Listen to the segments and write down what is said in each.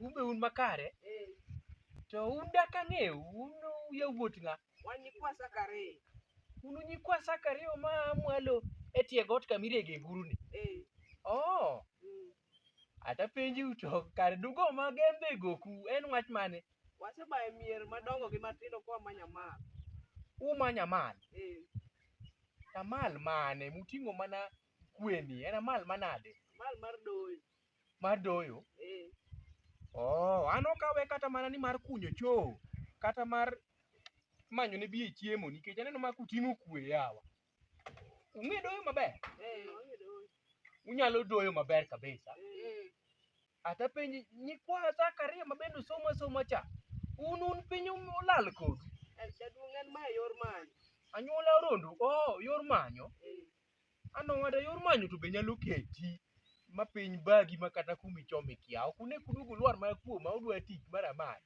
Un be un makare. To un dak ang'eu, un yawuot ng'a? Wan nyikwa Zakaria. Un nyikwa Zakaria ma mwalo e tie got kama irege nguru ni. Eh. Oh. Mm. Ata penji to kar dugo ma gembe goku en wach mane? Wasebaye mier madongo gi matindo kwa manya mal. Umanya mal. Eh. Amal mane muting'o mana kweni en amal manade? Amal mar doyo. Mar doyo? Eh. Oh, an ok awe kata mana ni mar kunyo choo kata mar manyo ne biye chiemo nikech aneno ma kuting'o kwe yawa. Ung'e doyo maber? Eh, wang'e doyo. Unyalo doyo maber kabisa. Eh. Ata penji nyikwa Zakaria ma bende usomo asoma cha. Un un piny um- olal kodu. Eh, Jaduong' en ma e yor manyo. Anyuola Rondo, oh, yor manyo. Eh. An owada yor manyo to be nyalo keti ma piny bagi ma kata kumi chome kia. Ok une kudugu lwar ma kuoma udwa tich mar amali.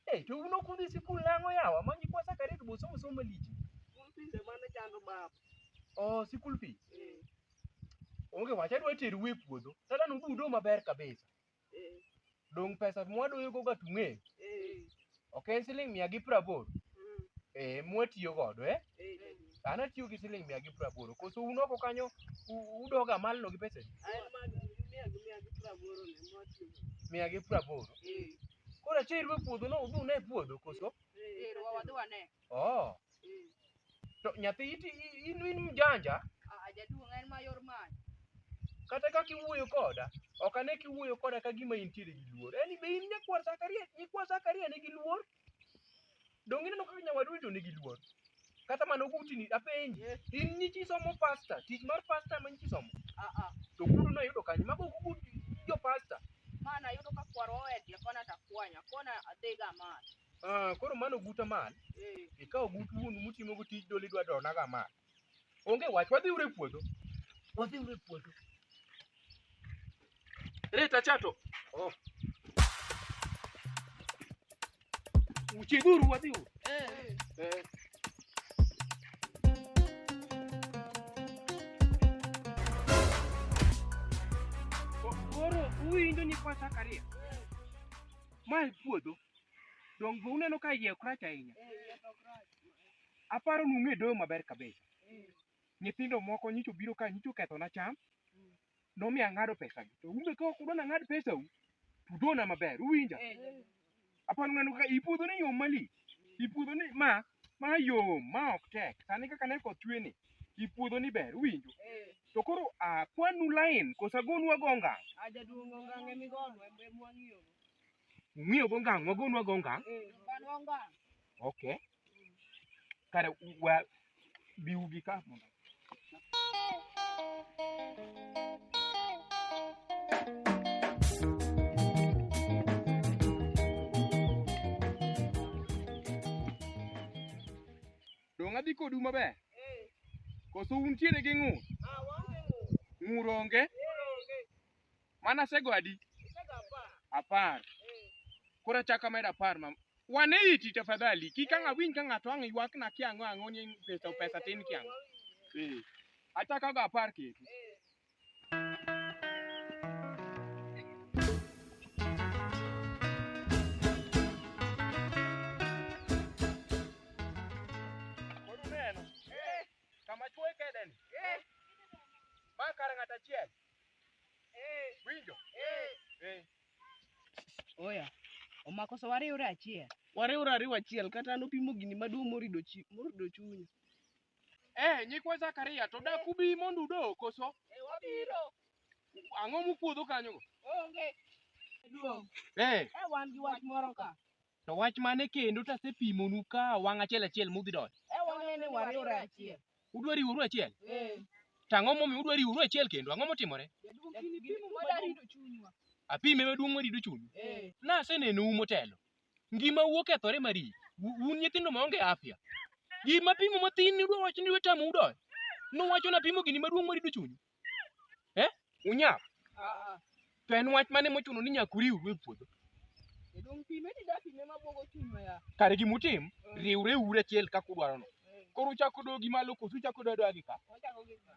Eh, to uno kudhi sikul nang'o yawa ma nyikwa sakarit bo somo somo malich. School fees ema ne chando baba. Oh, sikul fee. Eh. Onge wach adwa teru e puodho. Sasa nududo maber kabisa. Dong' pesa mwadoyo go gatung'e. Ok en siling' mia gi praboro. Eh, mwatiyo godo eh. An atiyo gi siling' mia gi praboro. Koso un oko kanyo u- udoga malno gi pesa mia gi praboro. Koro ache irwe puodho no udhune e puodho koso? Wadhi wane. Oh. To nyathi iti in in mjanja Ah, jaduong' en mayor many. kata ka kiwuoyo koda ok ane kiwuoyo koda ka gima intiere gi luor yani be in nyakwar Zakaria nyikwa Zakaria nigi luor donge ineno kaka nyawadu to nigi luor kata mano gutini apenji Yes. in nyichi somo pasta tich mar pasta ma nyichi somo Ah, ah. to gudu noyudo kanye mago gugu jo pasta Mana yudo ka kwarwa owedia kona takwanya, kona adhiga mach. Ah, koro mano guta man. Ikawo gut wuonu mutimo go tij dolo idwa dona ga man. Onge wach wadhi ure puodho. Wadhi ure puodho. Reta chato. Oh. Uchidhuru wadhi ure. Eh. Eh. Koro huyu ndo ni kwa Zakaria. Mae puodho. Dong' be uneno ka iye ok rach ahinya? Aparo ni ung'e doyo maber kabisa. Nyithindo moko nyicho biro ka nyicho kethona cham, nomi ang'ado pesagi. To un be ka ok udwa ni ang'ad pesau, to udona maber, uwinja? Aparo ni uneno kaka i puodhoni yom malich. I puodhoni ma, ma yom, ma ok tek. Sani kaka ne koth chwe ni, i puodhoni ber, uwinjo? To koro akwanu lain, koso agonu ago ngang'? Ung'iyo go ngang', wagonwa go ngang'. Okay. Kare wa biu gi ka mondo. Dong' adhi kodu maber? Koso untiere gi ng'ur? Ng'ur onge? Mana sego adi? Apar. Koro achako amedo apar ma wane iti tafadhali. Kik ang' awinj ka ng'ato ang' ywakna kiang'o ang'o ni pesa pesa tin kiang'o. Eh. Achako go apar ketu. Koro uneno? Kama chwoe kedeni. Ma kar ng'ato achiel. Winjo? Eh. Oya. Omako so wariwre achiel. Wariwre ariwa achiel kata an opimo gini maduong' morido chi morido chunya. Eh, nyikwa Zakaria to dak ubi mondo udo koso? Eh, wabiro. Ang'o mukuodho kanyo? Onge. Duong'. Eh. Eh, wan gi wach moro ka. To wach mane kendo to asepimonu ka wang' achiel achiel mudhi donjo. E wang'e ni wariwre achiel. Udwa riworu achiel? Eh. To ang'o momiyo udwa riworu achiel kendo? Ang'o motimore? Jaduong' kini pimo mada rido chunywa. Apime maduong' marido chunyu. Eh. Nasenenou motelo. Ngimau okethore mari. U- Un nyithindo maonge afya. Gima pimo matin ni udwa wacho ni udwa tamu udonjo. Nuwacho napimo gini maduong' marido chunyu. Eh? Unyap. Ah, To en wach mane mochuno ni nyaka uriwru e puodho? Edong pime ni da pime ma bogo chuno ya. Kare gima utim, riwre uru achiel kaka udwarono. Koro uchako dogi malo koso uchako dodo agi ka? Wachako gi ma.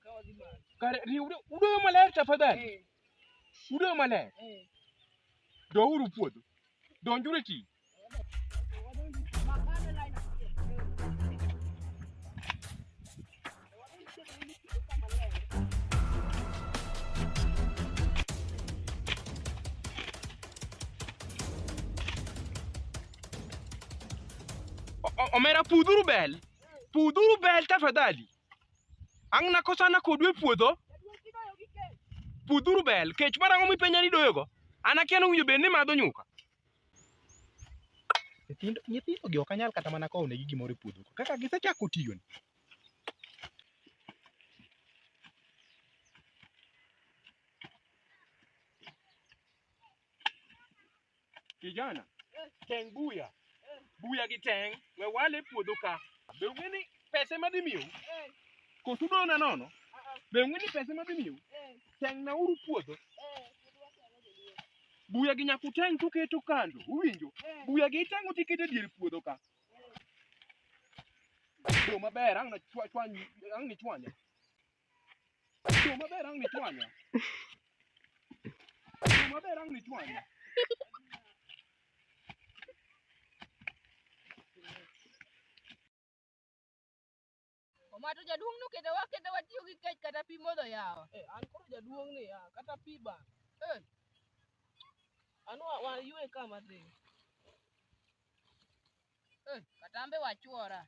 Ka wadhi ma. Kare riwre udoyo maler tafadhali. Eh, Udoyo maler. eh. Douru puodho. Donjuru e tich. omera pudhuru bel pudhuru bel tafadhali ang' nakosana kodu e puodho pudhuru bel kech mar ang'o mipenja ni doyogo an akia nowinjo bed ni madho nyuka Nyithindo nyithindogi ok anyal kata mana kowo negi gimoro e puodho kaka gisechako tiyoni. Kijana, teng' buya. Buya gi teng' we wale e puodho ka. Be ung'e ni pesa ema dhi miyou? Koso udona nono? Be ung'e ni pesa ema dhi miyou? Teng'nauru puodho. Buya gi nyaka uteng' tuketo kando, uwinjo? Buya gi iteng'o tiketo e dier puodho ka. Yo maber, ang' nachwany, ang' nichwanya. Yo maber, ang' nichwanya. Yo maber, ang' nichwanya. Omato jaduong' nokete wakete watiyo gi kech kata pi modho yawa. Eh, an koro jaduong' ni ya, kata pi ba. Eh. An wa, wa yue ka madhi. Eh, katambe wachuora.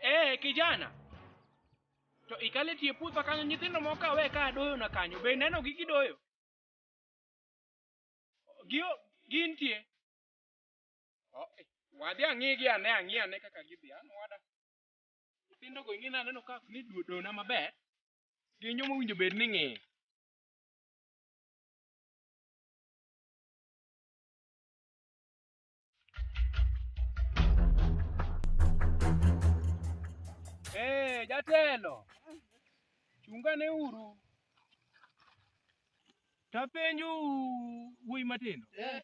Eh, kijana. To ikale tie puotha kanyo nyithindo moko kawe ka doyo na kanyo. Be neno gi gidoyo? Gio gintie. Wadhi ang'igi ane ang'i ane kaka gidhi. An wada. Nyithindo go ing'e naneno ka ni dona maber. Gin joma owinjo bed ni ng'eyo. Eh, jatelo. Chungane uru. Tapenju wuoyi matindo. Eh.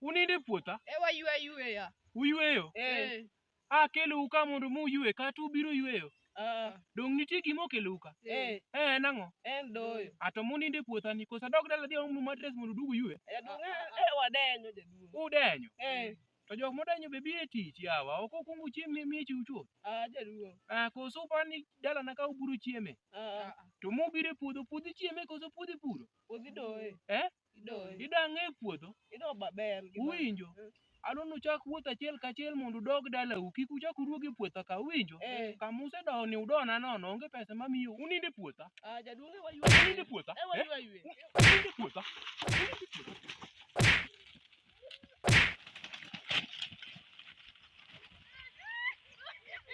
Unindo e puotha? E waywe ayweya. Uyweyo? Eh. Akelou ka mondo muywe kata ubiro yweyo? Ah. Donge nitie gima okelou ka? Eh. Eh, en ang'o? En doyo. A to munindo e puothani koso adog dala adhi aomnu matres mondo udug uywe? Jaduong' eh, eh wadenyo jaduong'. Udenyo? Eh. To jok modenyo be biro e tich yawa, ok okuong uchiem mi miech uchuo. Ah, jaduong'. Ah, koso uparo ni dalana ka ubiro chieme? Ah. To mubiro e puodho, puodho ichieme koso puodho ipuro? Puodho idoye. Eh? Idoyo. Idang' e puodho. Ido maber. gi ma- Uwinjo? Mm. Adwa ni uchak wuoth achiel kachiel mondo udog dalau. Kik uchak uduog e puotha ka. Uwinjo? Eh. Kama usedowo ni udona nono. Onge pesa mamiyo. Unind e puotha. Ah, jaduong' ewa ywe. Unind e puotha. Ewa Eh? ywe ywe. Unind e puotha. Unind e puotha.